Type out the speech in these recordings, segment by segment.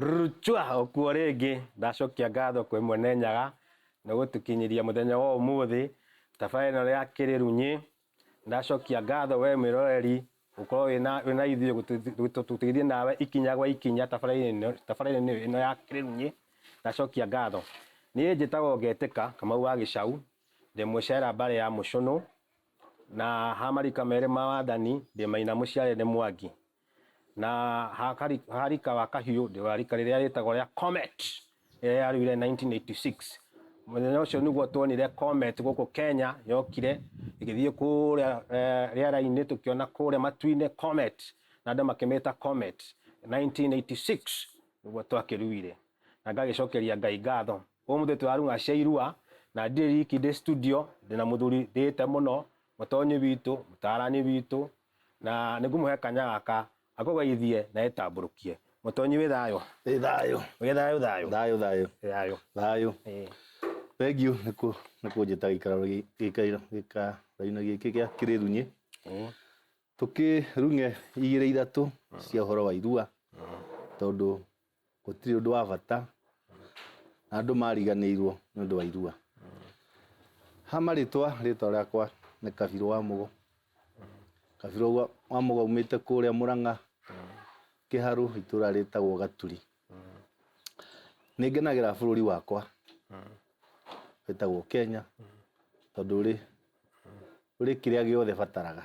Rchwa okuo rĩngĩ ndacokia ngatho kwĩ Mwene Nyaga nĩ gũtũkinyĩria mũthenya wa ũmũthĩ tabarĩra ĩno ya Kĩrĩrunyĩ. Ndacokia ngatho we mwĩroreri gũkorwo wĩna ithuĩ gũtũteithia nawe ikinya gwa ikinya tabarĩra-inĩ ĩno ya Kĩrĩrunyĩ. Ndacokia ngatho. Niĩ njĩtagwo Ngetĩka Kamau wa Gĩcaũ, ndĩ Mũcera mbarĩ ya Mũcũnũ, na ha marika merĩ ma wathani ndĩ Maina mũciare nĩ Mwangi. na harika wa kahiũ ndĩ wa rika rĩrĩa rĩtagwo rĩa comet ĩrĩa yarugire 1986 mũthenya ũcio nĩguo tuonire comet gũkũ Kenya yokire ĩgĩthiĩ kũrĩa eh, rĩera-inĩ tũkĩona kũrĩa matu-inĩ comet na andũ makĩmĩta comet 1986 nĩguo twakĩruire na ngagĩcokeria Ngai ngatho ũmũthĩ tũraruga cia irua na ndirĩ riki ndĩ studio ndĩna mũthuri ndĩte mũno mũtonyi witũ mũtarani witũ Na nĩ ngũmũhe kanya gaka akũgeithie na etambũrũkie. Mũtonyi wĩ thayũ? Wĩ thayũ. Wĩ thayũ thayũ? Thayũ thayũ. Thayũ. Thayũ. Thengiũ nĩ kũnjĩta gĩikaro-inĩ gĩkĩ gĩa Kĩrĩrunyĩ tũkĩrung'e igĩrĩ ithatũ cia ũhoro wa irua tondũ gũtirĩ ũndũ wa bata na andũ mariganĩirwo nĩ ũndũ wa irua ha marĩtwa rĩtwa rĩakwa nĩ kabirũ wa mũgo kabirũ wa- wa mũgo umĩte kũrĩa mũrang'a kĩharũ itũra rĩtagwo gaturi nĩ ngenagĩra bũrũri wakwa wĩtagwo kenya tondũ ũrĩ ũrĩ kĩrĩa gĩothe bataraga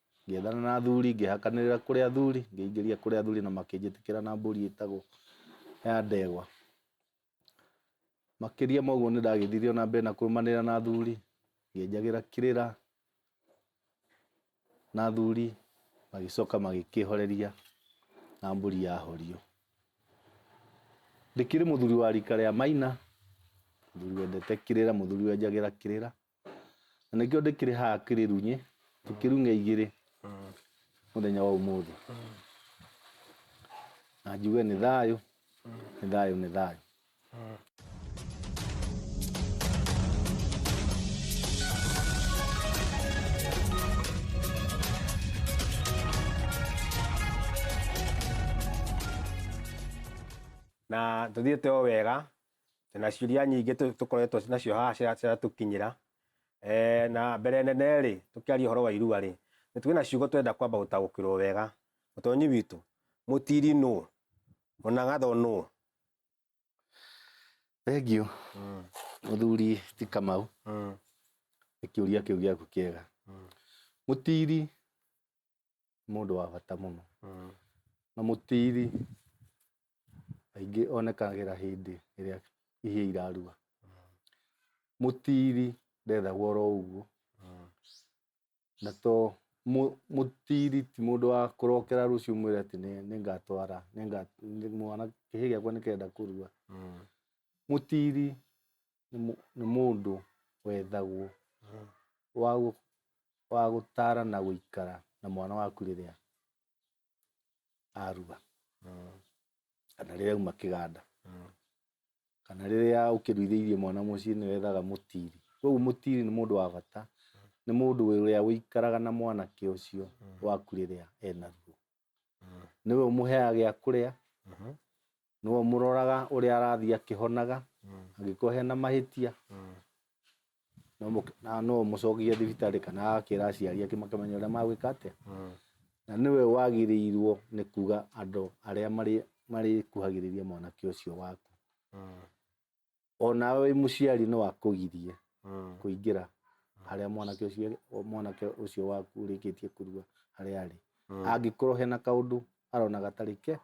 Ngĩethana na athuri, ngĩhakanĩrĩra kũrĩ athuri, ngĩingĩria kũrĩ athuri na makĩnjĩtĩkĩra na mbũri ĩtagwo ya ndegwa. Makĩria ma ũguo nĩ ndagĩthiire o na mbere na kũrũmanĩrĩra na athuri, ngĩenjagĩra kĩrĩra na athuri magĩcoka magĩkĩhoreria na mbũri yahorio. Ndĩkĩrĩ mũthuri wa rika rĩa Maina, mũthuri wendete kĩrĩra, mũthuri wenjagĩra kĩrĩra. na nĩkĩo ndĩkĩrĩ haha kĩrĩrunyĩ tũkĩrung'e igĩrĩ mũthenya wa ũmũthĩ na njuge nĩ thayũ nĩ thayũ nĩ thayũ na tũthiĩte o wega Twĩna ciũria nyingĩ tũkoretwo nacio haha ciratũkinyĩra. Na mbere nene rĩ, tũkĩaria ũhoro wa irua rĩ, nĩ twĩna ciugo twenda kwamba gũtaũkĩrwo wega. Mũtonyi witũ, mũtiri nũ? Mũnangatho nũ? Thengiũ mũthuri ti Kamau nĩ kĩũria kĩu gĩaku kĩega. Mũtiri nĩ mũndũ wa bata mũno Mm. na mũtiiri aingĩ onekagĩra hĩndĩ ĩrĩa ihia irarua mũtiiri ndethagwo oro ũguo Mm. na to mũ- mũtiiri ti mũndũ wa kũrokera rũciũ mwĩre atĩ nĩ- nĩngatwara nĩnga- nĩ- mwana kĩhĩ gĩakwa nĩkenda kũrua Mm. mũtiiri nĩ mũndũ wethagwo wa gũtara na gũikara na mwana waku rĩrĩa aruga kana rĩrĩa auma kĩganda kana rĩrĩa ũkĩruithĩirie mwana mũciĩ nĩ wethaga mũtiri. Koguo mũtiri nĩ mũndũ wa bata, nĩ mũndũ ũrĩa ũikaraga na mwanake ũcio waku rĩrĩa ena ruo. Nĩwe ũmũheaga gĩa kũrĩa, nĩwe ũmũroraga ũrĩa arathiĩ akĩhonaga angĩkorwo hena mahĩtia no mũk- na no ũmũcokie thibitarĩ kana akĩra aciari ake makamenya ũrĩa magwĩka atĩa na nĩwe wagĩrĩirwo nĩ kuga andũ arĩa marĩ- marĩkuhagĩrĩria mwanake ũcio waku onawe wĩ mũciari no akũgirie Mm. kũingĩra harĩa mwanake ũcio mwanake ũcio waku ũrĩkĩtie kũrua harĩa arĩ Mm. angĩkorwo hena kaũndũ arona gatarĩ ke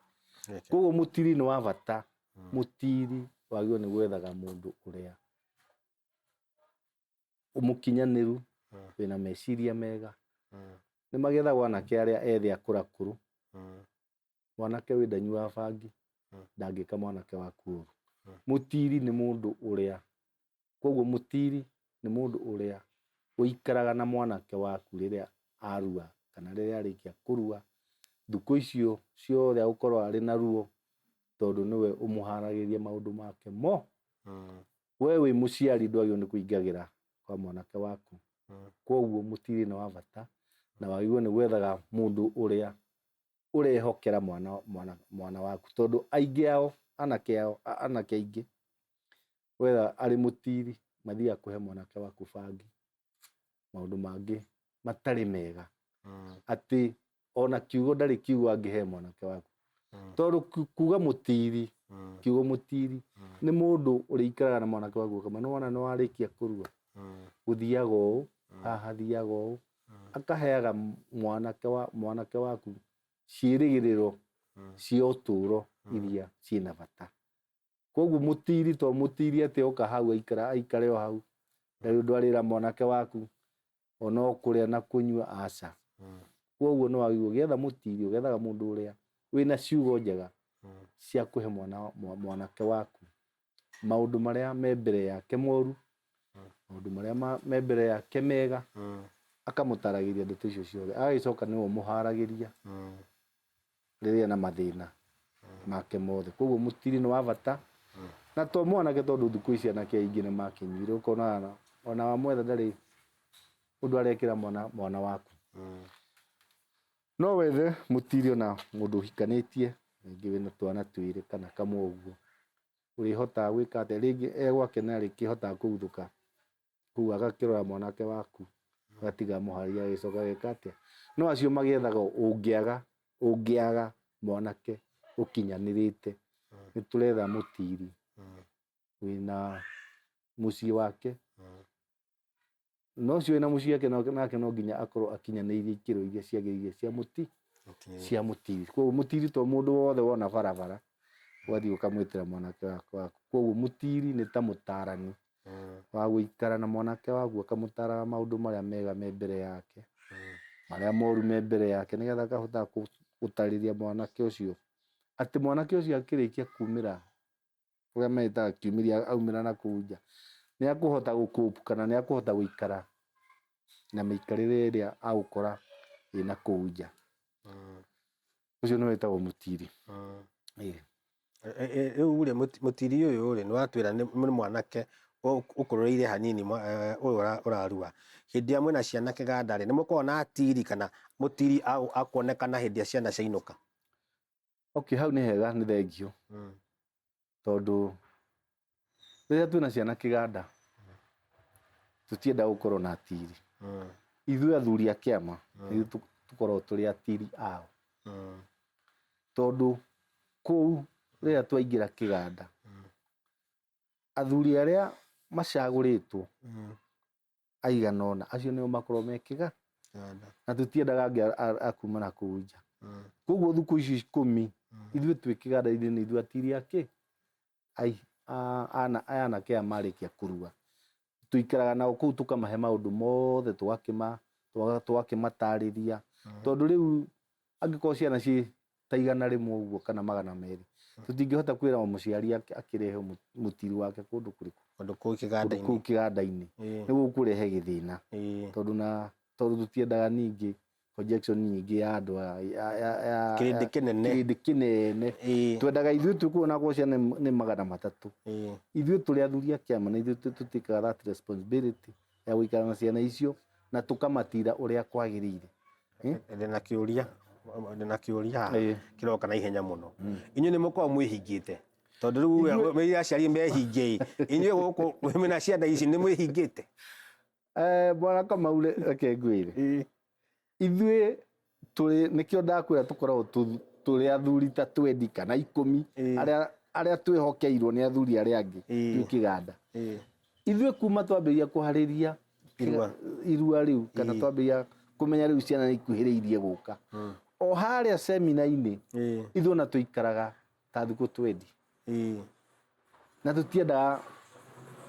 Geke. koguo mũtiri nĩ wa bata Mm. mũtiri wagĩrĩirwo nĩ gwethaga mũndũ ũrĩa mũkinyanĩru Mm. wĩna meciria mega Mm. nĩ magethagwo anake arĩa ethĩ akũrakũrũ Mm. mwanake ũyũ ndanyuaga bangi Mm. ndangĩka mwanake waku ũru Mm. mũtiri nĩ mũndũ ũrĩa koguo mũtiri nĩ mũndũ ũrĩa ũikaraga na mwanake waku rĩrĩa arua kana rĩrĩa arĩkia kũrua thukũ icio ciothe agũkorwo arĩ na ruo tondũ nĩwe ũmũharagĩria maũndũ make mo Mm. we wĩ mũciari ndwagĩrĩirwo nĩ kũingagĩra kwa mwanake waku Mm. koguo mũtirĩ nĩ wa bata na wagĩrĩirwo nĩ gwethaga mũndũ ũrĩa ũrehokera mwana mwana mwana waku tondũ aingĩ ao anake ao a- anake aingĩ wetha arĩ mũtiri mathiaga kũhe mwanake waku bangi maũndũ mangĩ matarĩ mega Mm, atĩ ona kiugo ndarĩ kiugo angĩhe mwanake waku mm, tondũ ku- kuga mũtiri mm, kiugo mũtiri mm, nĩ mũndũ ũrĩikaraga na mwanake waku ũkamwĩra nĩwona nĩwarĩkia kũrua mm, gũthiaga ũũ mm, haha thiaga ũũ Akaheaga mwanake wa mwanake waku ciĩrĩgĩrĩro cia ũtũũro iria ciĩ na bata koguo mũtiri to mũtiri atĩ oka hau aikara aikare o hau ndarĩ ũndũ arĩra mwanake waku ona o kũrĩa na kũnyua aca koguo nĩ wagĩrĩirwo ũgĩetha mũtiri ũgethaga mũndũ ũrĩa wĩna ciugo njega cia kũhe mwana mwa- mwanake waku maũndũ marĩa me mbere yake moru maũndũ marĩa ma- me mbere yake mega Mm. akamũtaragĩria ndeto icio ciothe agagĩcoka nĩwe ũmũharagĩria Mm. rĩrĩa na mathĩna make mothe koguo mũtiri nĩ wa bata na to mwanake tondũ thikũ ici anake aingĩ nĩ makinyire ũkona ona wamwetha ndarĩ ũndũ arekĩra mwana mwana waku Mm. No wethe mũtirio na mũndũ ũhikanĩtie, rĩngĩ wĩna twana twĩrĩ kana kamwe ũguo, ũrĩhotaga gwĩka atĩa? Rĩngĩ e gwake nĩ arĩkĩhotaga kũguthũka kũu agakĩrora mwanake waku, agatiga mũhari agagĩcoka ageka atĩa? No acio magĩethaga ũngĩaga, ũngĩaga mwanake ũkinyanĩrĩte, nĩ tũretha mũtiri wĩna mũciĩ wake. na ũcio wĩna mũciĩ ake no- nake no nginya akorwo akinyanĩirie ikĩro iria ciagĩrĩire cia mũti Mũtiĩ. cia mũtiri koguo mũtiri to mũndũ wothe wona barabara wathiĩ ũkamwĩtĩra mwanake waku waku koguo mũtiri nĩ ta mũtarani Mm, wa gũikara na mwanake waku akamũtaraga maũndũ marĩa mega me mbere yake mm. marĩa moru me mbere yake nĩgetha akahota kũ- gũtarĩria mwanake ũcio atĩ mwanake ũcio akĩrĩkia kumĩra ũrĩa metaga kiumĩria aumĩra na kũu nja, nĩ akũhota gũkũpu kana nĩ akũhota gũikara na mĩikarĩre ĩrĩa agũkora ĩ na kũu nja. Mm. Ũcio nĩ wetagwo mũtiri. Mm. Ĩĩ. E, e, rĩu rĩ mũtiri ũyũ rĩ nĩwatwĩra nĩ mwanake ũkũrũrĩire hanini e, ũyũ ũrarua hĩndĩ ĩrĩa mwĩna ciana kĩganda rĩ nĩmũkoragwo na atiri kana mũtiri akuonekana hĩndĩ ĩrĩa ciana ciainũka okay hau nĩ hega nĩ thengio mm. tondũ rĩrĩa twĩna ciana kĩganda tũtienda gũkorwo na atiri mm. ithuĩ athuri a kĩama mm. tũkorwo tũrĩ atiri ao mm. tondũ kũu rĩrĩa twaingĩra kĩganda mm. athuri arĩa macagũrĩtwo mm. aigana ũna acio nĩo makorwo me kĩga na tũtiendaga angĩ akuma na kũu nja mm. koguo thukũ icio ikũmi mm. ithuĩ twĩ kĩganda-inĩ nĩ ithuĩ atiria kĩ anake aya marĩkia kũrua tũikaraga nao kũu tũkamahe maũndũ mothe tũgakĩmatarĩria mm. tondũ rĩu angĩkorwo ciana ciĩ ta igana rĩmwe ũguo kana magana merĩ tũtingĩhota kwĩra o mũciari ak- akĩrehe mũ- mũtiri wake kũndũ kũrĩkũ Kũndũ kũu kũndũ kĩganda-inĩ. kũu kĩganda-inĩ Ĩĩ, nĩguo gũkũrehe gĩthĩna ĩĩ. tondũ na tondũ tũtiendaga ningĩ projection nyingĩ ya andũ a- ya- ya- ya- Kĩrĩndĩ ya- kĩnene. kĩrĩndĩ kĩnene Ĩĩ, twendaga ithuĩ tũkuo na gwacia nĩ magana matatũ ĩĩ. ithuĩ tũrĩ athuri a kĩama na ithuĩ tũ- tũtĩkaga that responsibility ya gũikara na ciana icio na tũkamatira ũrĩa kwagĩrĩire Eh? ndĩ na kĩũria ndĩ na kĩũria haha Ĩĩ. kĩroka na ihenya mũno inyuĩ nĩ mũkoragwo mwĩhingĩte tondũ rĩu we- we aciari mehinge inyuĩ gũkũ mwĩ na ciana ici nĩ mwĩhingĩte Eh, bwana kamau re- reke ngwĩre ithuĩ tũrĩ nĩkĩo ndakwĩra tũkoragwo tũ- tũrĩ athuri ta twendi kana ikũmi Ĩĩ. arĩa arĩa twĩhokeirwo nĩ athuri arĩa angĩ Ĩĩ. twĩ kĩganda Ĩĩ. ithuĩ kuma twambĩrĩria kũharĩria Irua. irua rĩu kana Ĩĩ. twambĩrĩria kũmenya rĩu ciana nĩ ikuhĩrĩirie gũka o harĩa semina-inĩ Ĩĩ. ithuĩ ona tũikaraga tathikå twendi Ĩĩ. na tå tiendaga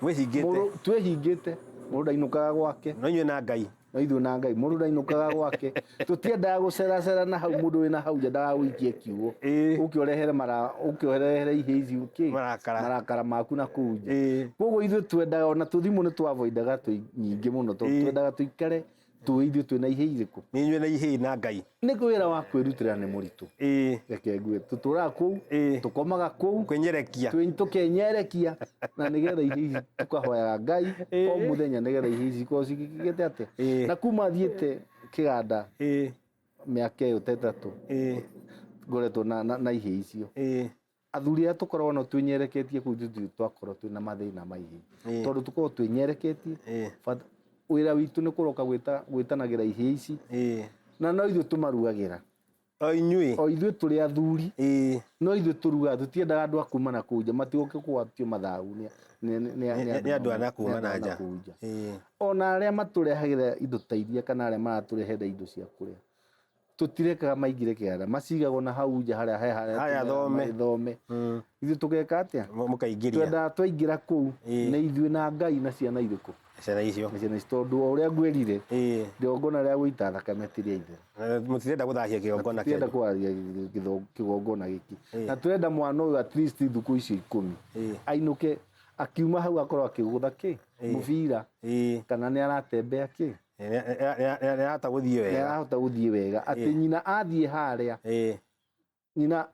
mwĩhingĩte mũrũ- twĩhingä te må rå ndainåkaga gwake no inyuĩ na ngai no ithuä na ngai må rå ndainåkaga gwake tå tiendaga gå ceracera na hau må ndå wä na hau nja ndagagå ikie kiugo Ĩĩ. å kä orehere mara- å kä orehere ihä ici kä Marakara. marakara maku na kå u nja Ĩĩ. koguo ithuä twendaga ona tå thimå nä twavoidaga nyingä må no tondå Ĩĩ. twendaga tå ikare tũĩ ithuĩ twĩ na ihĩ irĩkũ nĩ inyuĩ na ihĩ na ngai nĩ wĩra wa kwĩrutĩra nĩ mũritũ ĩĩ reke ngue tũtũraga kũu Ĩĩ. tũkomaga kũu kwenyerekia twĩ- tũkenyerekia na nĩgetha ihĩ ici tũkahoyaga ngai o mũthenya nĩgetha ihĩ ici ikorwo cigĩte atĩ Ĩĩ. na kuma thiĩte kĩganda ĩĩ mĩaka ĩyo ta ĩtatũ ĩĩ ngoretwo na, na, na ihĩ icio ĩĩ athuri arĩa tũkoragwo nao twĩnyereketie kũu nĩthuĩ twakorwo twĩna mathĩna maingĩ Ĩĩ. tondũ tũkoragwo twĩnyereketie Ĩĩ. but wĩra witũ nĩ kũroka gwĩta- gwĩtanagĩra ihĩĩ ici Ĩĩ. na no ithuĩ tũmarugagĩra o inyuĩ o ithuĩ tũrĩ athuri Ĩĩ. no ithuĩ tũrugaga tũtiendaga andũ a kuma na kũu nja matigoke kũgwatio mathagu nĩ- nĩ- nĩ- nĩ- nĩ nĩ andũ a na kuma nĩ andũ na a nja kũu nja Ĩĩ. ona arĩa matũrehagĩra indo ta iria kana arĩa maratũrehera indo cia kũrĩa tũtirekaga maingĩre kĩara macigagwo na hau nja harĩa he harĩa Harĩa tũmera thome. magĩthome Mm. ithuĩ tũgeka atĩa Mũ- mũkaingĩria twendaga twaingĩra kũu Ĩĩ. na ithuĩ na ngai na ciana irĩkũ ciana icio na ciana ici tondũ o ũrĩa ngwerire Ĩĩ. igongona rĩa gũita thakame ti rĩa ithe Eh, mũtirenda gũthahia kĩgongona tũrenda kĩanyu kwaria gĩtho- kĩgongona gĩkĩ Ĩĩ. na tũrenda mwana ũyũ at least thukũ icio ikũmi Ĩĩ. ainũke akiuma hau akorwo akĩgũtha kĩ Ĩĩ. mũbira Ĩĩ. kana nĩ aratembea kĩ nĩarahota gũthiĩ wega nĩarahota gũthiĩ wega atĩ Ĩĩ. nyina athiĩ harĩa Ĩĩ, nyina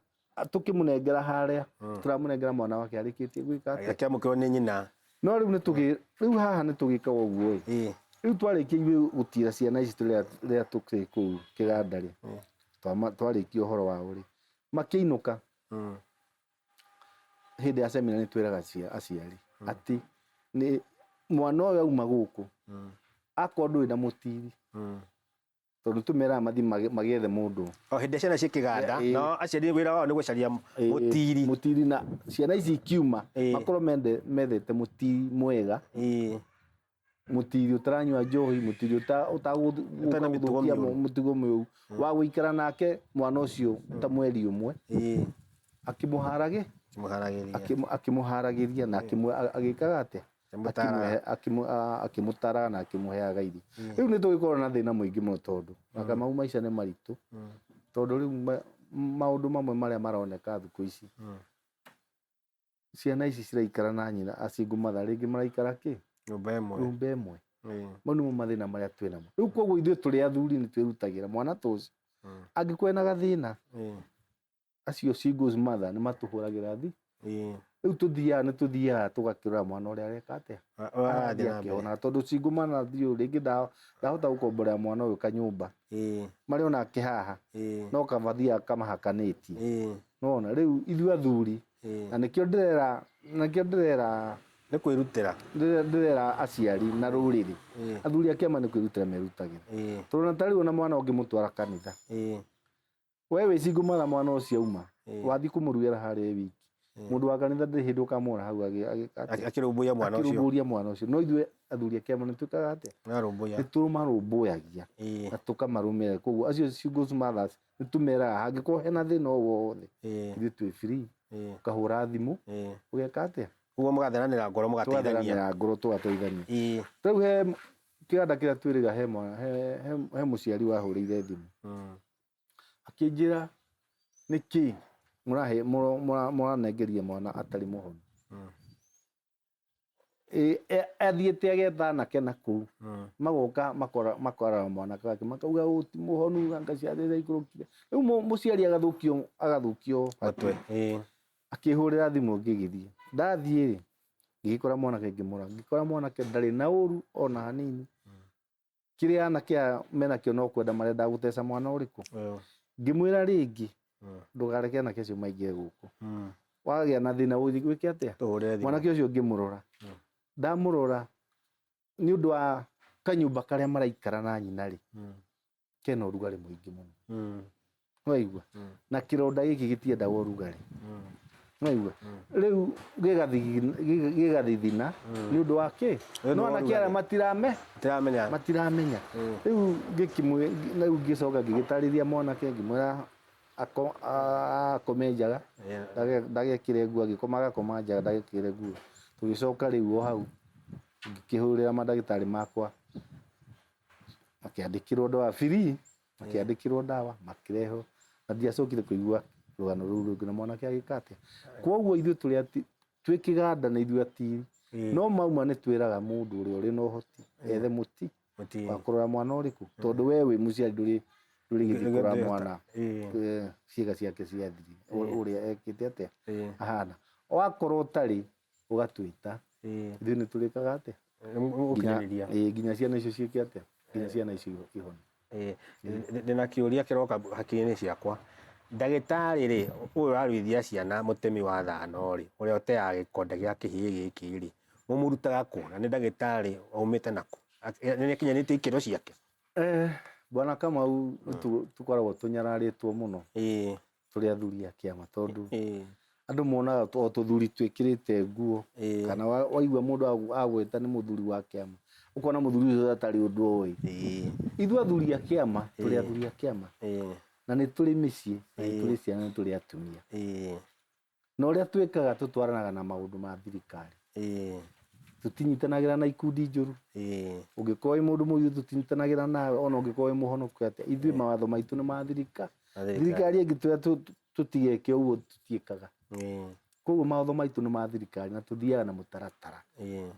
tũkĩmũnengera harĩa tũramũnengera mwana wake arĩkĩtie gwĩka atĩa akĩamũkĩrwo nĩ nyina no rĩu nĩtũgĩ rĩu haha nĩtũgĩkaga ũguo ĩ Ĩĩ, rĩu twarĩkia ithuĩ gũtira ciana ici rĩrĩa rĩrĩa tũkĩrĩ kũu kĩganda-rĩ twama- twarĩkia ũhoro wao-rĩ makĩinũka mm, hĩndĩ ya semina nĩ twĩraga cia- aciari atĩ nĩ mwana ũyũ auma gũkũ Mm. akorwo ndũrĩ na mũtiri Mm. tondũ tũmeraga mathiĩ mage- magĩethe mũndũ o hĩndĩ ĩrĩa ciana ciĩ kĩganda Ĩ- ĩ. no aciari wĩra wao nĩ gũcaria Eh, mũtiri mũtiri na ciana ici ikiuma Eh. makorwo mende- methete mũtiri mwega Ĩ. mũtiri ũtaranyua njohi mũtiri ũta- ũtagũ- Ũtarĩ na mĩtugo ũtagũthũkia mĩũru. mũtugo mĩũru wa gũikara nake mwana ũcio ta mweri ũmwe ĩĩ akĩmũharagĩ kĩmũharagĩria akĩmũ- akĩmũharagĩria na akĩmũ- a- agĩkaga atĩa Akĩmũtaraga. Akĩmũhe- akĩmũ- a- akĩmũtaraga na akĩmũheaga irio rĩu nĩ tũgĩkorwo na thĩna mũingĩ mũno tondũ maka mau maica nĩ maritũ tondũ rĩu ma- maũndũ mamwe marĩa maroneka thikũ ici ciana ici ciraikara na nyina a single mother rĩngĩ maraikara kĩ nyũmba ĩmwe nyũmba ĩmwe Ĩĩ. mau nĩmo mathĩna marĩa twĩ namo rĩu koguo ithuĩ tũrĩ athuri nĩ twĩrutagĩra mwana ta ũcio Mm. angĩkorwo ena gathĩna Ĩĩ. acio singles mother nĩ matũhũragĩra thi Ĩĩ. rĩu tũthiaga nĩ tũthiaga tũgakĩrora mwana ũrĩa areka atĩa Wa- wa- arathiĩ arathiĩ na mbere. akĩhona tondũ single mother thiĩ ũũ, rĩngĩ nda- ndahota gũkomborera mwana ũyũ kanyũmba Ĩĩ. marĩ onake haha Ĩĩ. no kamathiaga kamahakanĩtie Ĩĩ. nona rĩu ithuĩ athuri Eh. na nĩkĩo ndĩrera nakĩo ndĩrera nĩ kwĩrutĩra ndĩrera ndĩrera aciari na rũrĩrĩ Eh. athuri a kĩama nĩ kwĩrutĩra merutagĩra Eh, tondũ na tarĩu ona mwana ũngĩmũtwara kanitha eh, we wĩcingũmara mwana ũcio auma Eh. wathiĩ kũmũruĩra harĩa e wiki Eh. mũndũ wa kanitha ndĩrĩ hĩndĩ ũkamwona hau agĩ- agĩ- akĩ- akĩrũmbũiya mwana ũcio akĩrũmbũria mwana ũcio no ithuĩ athuri a kĩama nĩ twĩkaga atĩa narũmbũiya nĩ tũmarũmbũyagia Eh, na tũkamarũmĩrĩra koguo acio ciugo mothers nĩ tũmeraga hangĩkorwo hena thĩna o wothe Eh. ithuĩ twĩ free Eh. ũkahũra thimũ Eh. ũgeka atĩa ũguo mũgatheranĩra ngoro mũgateithania tũgatheranĩra ngoro tũgateithania Ĩĩ. rĩu he kĩganda kĩrĩa twĩrĩga he mwana he, he, he mũciari wahũrĩire thimũ Mm. akĩnjĩra nĩkĩ mũrahe mũra- mũra- mũranengeria mwana atarĩ mũhonu Mm. Ĩ, e- athiĩte agetha anake na kũu Mm. magoka makora- makorara mwanake wake makauga ũũ ti mũhonu anga ciana iria ikũrũkire rĩu mũ- mũciari agathũkio agathũkio Matwe. Ĩ. akĩhũrĩra thimũ ngĩgĩthiĩ ndathiĩ rĩ ngĩgĩkora mwanake ngĩmũra ngĩkora mwanake ndarĩ na ũru ona hanini kĩrĩa anake aya menakĩo no kwenda marenda gũteca mwana ũrĩkũ Ĩyo. ngĩmwĩra rĩngĩ Mm. ndũgareke anake acio maingĩre gũkũ Mm. wagĩa na thĩna ũthiĩ gwĩke atĩa Tũhũrĩre thimũ. mwanake ũcio ngĩmũrora Mm. ndamũrora nĩ ũndũ wa kanyũmba karĩa maraikara na nyina rĩ Mm. kena ũrugarĩ mũingĩ mũno Mm. nĩwaigua na kĩronda gĩkĩ gĩtiendaga ũrugarĩ nĩwaigua rĩu gĩgathigina- gĩ- gĩgathithina nĩ ũndũ wa kĩ Nĩ ũndũ no wa anake ũrugarĩ. arĩa matirame tiramenya matiramenya rĩu ngĩkimwĩ- rĩu ngĩcoka ngĩgĩtarĩria mwanake ngĩmwĩra ako- a- akome njaga Yeah. ndage- ndagekĩre nguo agĩkoma agakoma njaga ndagekĩre nguo tũgĩcoka rĩu o hau ngĩkĩhũrĩra mandagĩtarĩ makwa makĩandĩkĩrwo ndawa biri makĩandĩkĩrwo ndawa makĩrehwo na ndiacokire kũigua rũgano rũu rũngĩ na mwanake agĩka atĩa kwoguo ithuĩ tũrĩ ati twĩ kĩganda nĩ ithuĩ atiri Ĩĩ. no mauma nĩ twĩraga mũndũ ũrĩa ũrĩ na ũhoti ethe mũti Mũti. wa kũrora mwana ũrĩkũ tondũ we wĩ mũciari ndũrĩ ndũrĩ gĩthiĩ Ndũrĩ kũrora gĩthiĩ mwana Ĩĩ. eh, ciĩga ciake ciathiri Ĩĩ. ũrĩa ekĩte atĩa Ĩĩ. ahana wakorwo ũtarĩ ũgatwĩta Eh, ithuĩ nĩ tũrĩkaga atĩa nĩ mũ- nginya mũgũkinyanĩria ĩĩ, nginya ciana icio ciĩke atĩa nginya ciana icio ihone Eh, ndĩ- ndĩna kĩũria kĩroka hakiri-inĩ ciakwa ndagĩtarĩ rĩ ũyũ ũraruithia ciana mũtemi wa thano rĩ ũrĩa ũteaga gĩkonde gĩa kĩhĩĩ gĩkĩ rĩ mũmũrutaga kũ na nĩ ndagĩtarĩ aumĩte nakũ Ak- eh, nĩ akinyanĩtie ikĩro ciake Eh, bwana kamau nĩ tũ- tũkoragwo tũnyararĩtwo mũno ĩĩ tũrĩ athuri a kĩama tondũ ĩĩ andũ monaga o tũthuri twĩkĩrĩte nguo ĩĩ kana wa- waigua mũndũ agu- agwĩta nĩ mũthuri wa kĩama ũkona mũthuri ũcio atarĩ ũndũ oĩ ĩĩ ithuĩ athuri a kĩama tũrĩ Ĩĩ. athuri a kĩama ĩĩ na nĩ tũrĩ mĩciĩ na nĩ Ĩĩ. tũrĩ ciana na nĩ tũrĩ atumia ĩĩ na ũrĩa twĩkaga tũtwaranaga na maũndũ ma thirikari ĩĩ tũtinyitanagĩra na ikundi njũru ĩĩ ũngĩkorwo wĩ mũndũ mũgithu tũtinyitanagĩra nawe ona ũngĩkorwo wĩ mũhonoku atĩa ithuĩ mawatho maitũ nĩ ma thirika Na thirikari. thirikari ĩngĩtwĩra tũ- tũ- tũtigeke ũguo tũtiĩkaga ĩĩ koguo mawatho maitũ nĩ ma thirikari na tũthiaga na mũtaratara ĩĩ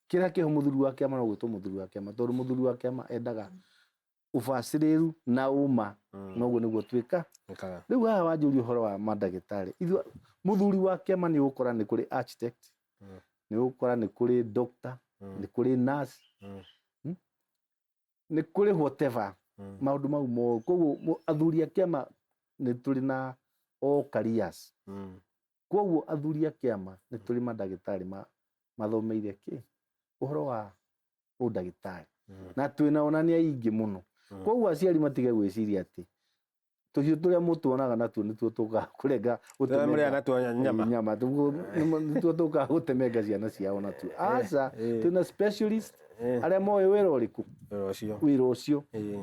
kĩrĩa kĩho mũthuri wa kĩama no gwĩtwo mũthuri wa kĩama tondũ mũthuri wa kĩama endaga ũbacĩrĩru na ũma mm. noguo nĩguo twĩka rĩu haha wanjũria ũhoro wa mandagĩtarĩ ithuĩ mũthuri wa kĩama nĩ ũgũkora nĩ kũrĩ architect mm. nĩ ũgũkora nĩ kũrĩ doctor mm. nĩ kũrĩ nurse mm. Hmm? nĩ kũrĩ whatever mm. maũndũ mau mo koguo athuri a kĩama nĩ tũrĩ na all careers mm. koguo athuri a kĩama nĩ tũrĩ mandagĩtarĩ mathomeire kĩ ũhoro wa hau ndagĩtarĩ Mm. na twĩna onania ingĩ mũno Mm. koguo aciari matige gwĩciria atĩ tũhiũ tũrĩa mũtuonaga natuo nĩtuo tũkaga kũrenga Tũrĩa mũrĩa natuo nyama. nyama Tuo- nĩmo- nĩtuo tũkaga gũtemenga ciana ciao natuo aca eh. twĩna specialist Eh. arĩa moĩ wĩra ũrĩkũ Wĩra ũcio. wĩra ũcio Eh.